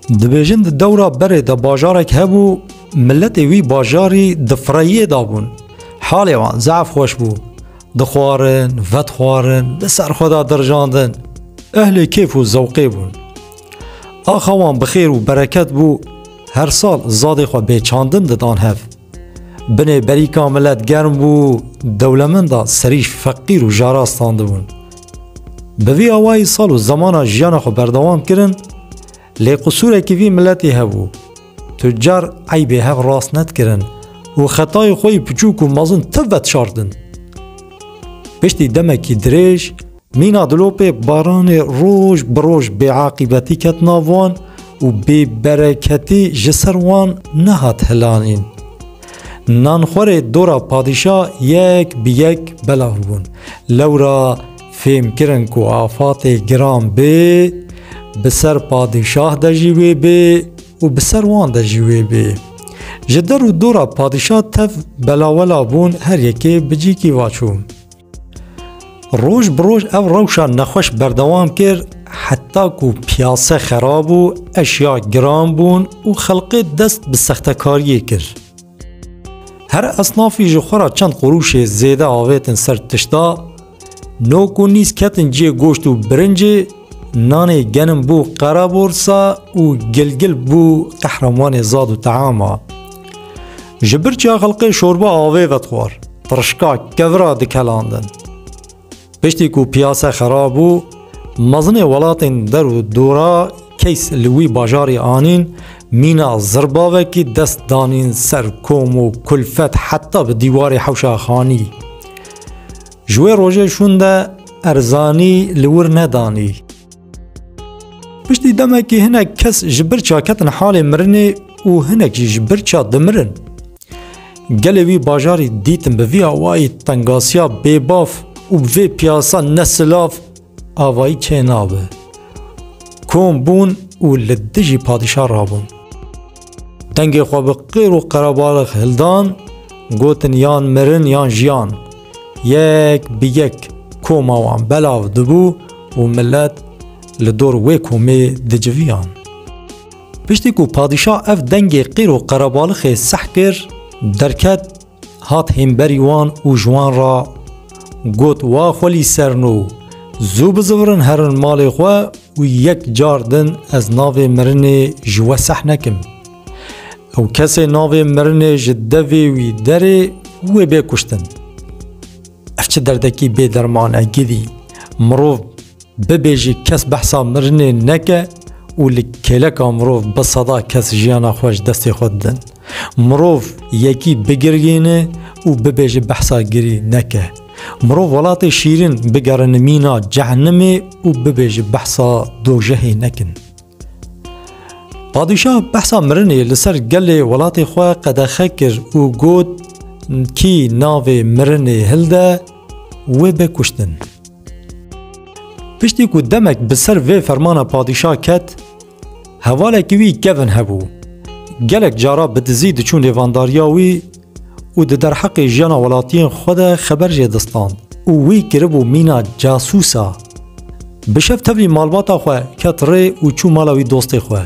Dibêjin di dewra berê de bajarek hebû miletê wî bajarî di fireyiyê de bûn. Halê wan zaf xweş bû. Dixwarin, vedixwarin, di ser xwe de dirjandin. Ehlê kêf û zewqê bûn. Axa wan bi xêr û bereket bû, her sal zadê xwe bê çandin didan hev. Binê berîka milet germ bû, dewlemenda serî feqîr û jara standibûn. Bi vî awayî sal û zemana jiyana xwe berdewam kirin, lê qisûrekî vî miletê hebû. Tucar eybê hev rast nedikirin û xetayê xwe yî piçûk û mezin ti vetişartin. Piştî demekî dirêj Mîna dilopê baranê roj bi roj bêaqîbetî ket nav wan û bêbereketî ji ser wan nehat hilanîn. Nanxwerê dora padîşa yek bi yek belan bûn. Lewra fêm kirin ku afatê giran bê, bi ser padîşah de jî wê bê û bi ser wan de jî wê bê. Ji der û dora padîşa tev belawela bûn her yekê bi cîkî va çû. Roj bi roj ev rewşa nexweş berdewam kir heta ku piyase xerab bû, eşya giran bûn û xelkê dest bi sextekariyê kir. Her esnafî ji xwe ra çend qurûşê zêde avêtin ser tişta, nok û nîz ketin cihê goşt û birincê, nanê genim bû qereborsa û gilgil bû qehremanê zad û teama. Ji birçîya xelqê şorba avê vedixwar, tirişka kevira dikelandin. Piştî ku piyase xera bû, mezinê welatên der û dora keys li wî bajarî anîn, mîna zirbavekî dest danîn ser kom û kulfet heta bi dîwarê hewşa xanî. Ji wê rojê şûn de erzanî li wir nedanî. Piştî demekî hinek kes ji bir çiya ketin halê mirinê û hinek jî ji bir çiya dimirin. Gelê wî bajarî dîtin bi vî awayî tengasiya bêbaf û bi vê piyasa ne silav avayî çê nabe. Kom bûn û li dijî padîşa rabûn. Dengê xwe bi qêr û qerebalix hildan, gotin yan mirin yan jiyan. Yek bi yek koma wan belav dibû û milet li dor wê komê diciviyan. Piştî ku padîşa ev dengê qêr û qerebalixê seh kir, derket hat hêmberî wan û ji wan re got, Wa xwelî serno, zû bizivirin herin malê xwe û yek car din ez navê mirinê ji we seh nekim. Ew kesê navê mirinê ji devê wî derê wê bê kuştin. Ev çi derdekî bê derman e gilî. Mirov bibêjî kes behsa mirinê neke û li kêleka mirov bi seda kes jiyana xwe ji destê xwe didin. Mirov yekî bigirgîne û bibêje behsa girî neke. Mirov welatê şîrin bigerine mîna cehenimê û bibêje behsa dojehê nekin. Padîşah behsa mirinê li ser gelê welatê xwe qedexe kir û got kî navê mirinê hilde wê be kuştin. Piştî ku demek bi ser vê fermana padîşah ket, Hevalekî wî kevn hebû. Gelek cara bi dizî diçûn lêvandariya wî û di derheqê jiyana welatiyên xwe de xeber jê distand û wî kiribû mîna casûs a. Bi şev tevlî malbata xwe ket rê û çû mala wî dostê xwe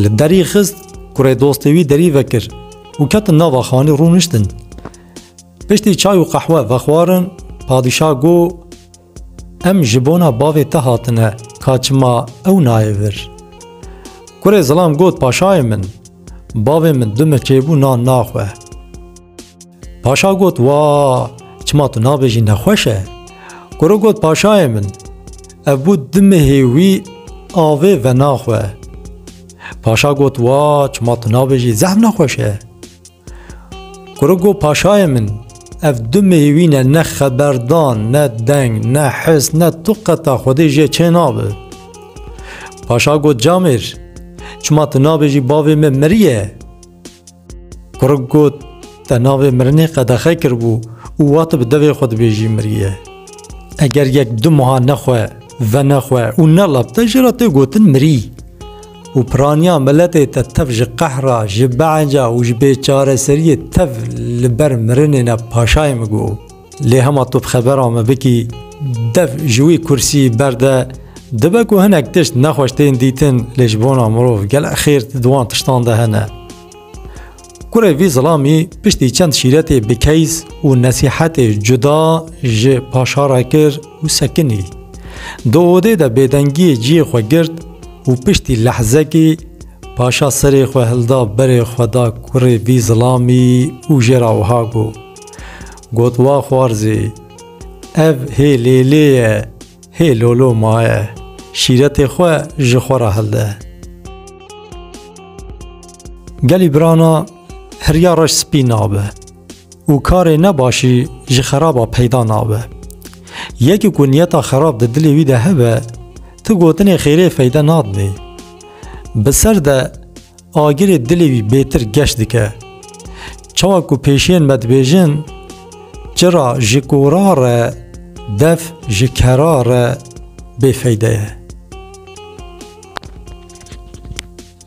li derî xist kurê dostê wî derî vekir û ketin nava xanî rûniştin. Piştî çay û qehwe vexwarin padîşah got, Em ji bona bavê te hatine, ka çima ew nayê vir. Kurê zilam got paşayê min, bavê min du miçê bû nan naxwe. Paşa got wa, çima tu nabêjî nexweş e? Kuro got paşayê min, ev bû du mihê wî avê venaxwe. Paşa got wa, çima tu nabêjî zehm nexweş e? Kuru got paşayê min, ev du meyvîne ne xeberdan, ne deng, ne his, ne tu qeta xwedê jê çê nabe. Paşa got camêr, çima tu nabêjî bavê me miriye? Kuru got te navê mirinê qedexe kiribû û wa tu bi devê xwe dibêjî miriye. Eger yek du meha nexwe, venexwe û nelab te jê re tê gotin mirî. û piraniya miletê te tev ji qehra, ji behenca û ji bêçareseriyê tev li ber mirinê ne paşayê min got. Lê hema tu bi xebera min bikî dev ji wî kursî berde, dibe ku hinek tişt nexweş tên dîtin lê ji bona mirov gelek xêr di wan tiştan de hene. Kurê vî zilamî piştî çend şîretê bi keyz û nesîhetê cuda ji paşa re kir û sekinî. Di odê de bêdengiyê ciyê xwe girt û piştî lehzekî paşa serê xwe hilda berê xwe da kurê vî zilamî û jê re wiha got, Got wa xwarzê, ev hê lêlê ye, hê lolo maye, şîretê xwe ji xwe re hilde. Gelî birana hiriya reş spî nabe û karê ne başî ji xeraba peyda nabe. Yekî ku niyeta xerab di dilê wî de hebe, tu gotinê xêrê feyde nadinê. Bi ser de agirê dilê wî bêtir geş dike. Çawa ku pêşiyên me dibêjin, Çira ji kora re, dev ji kera re bêfeyde ye.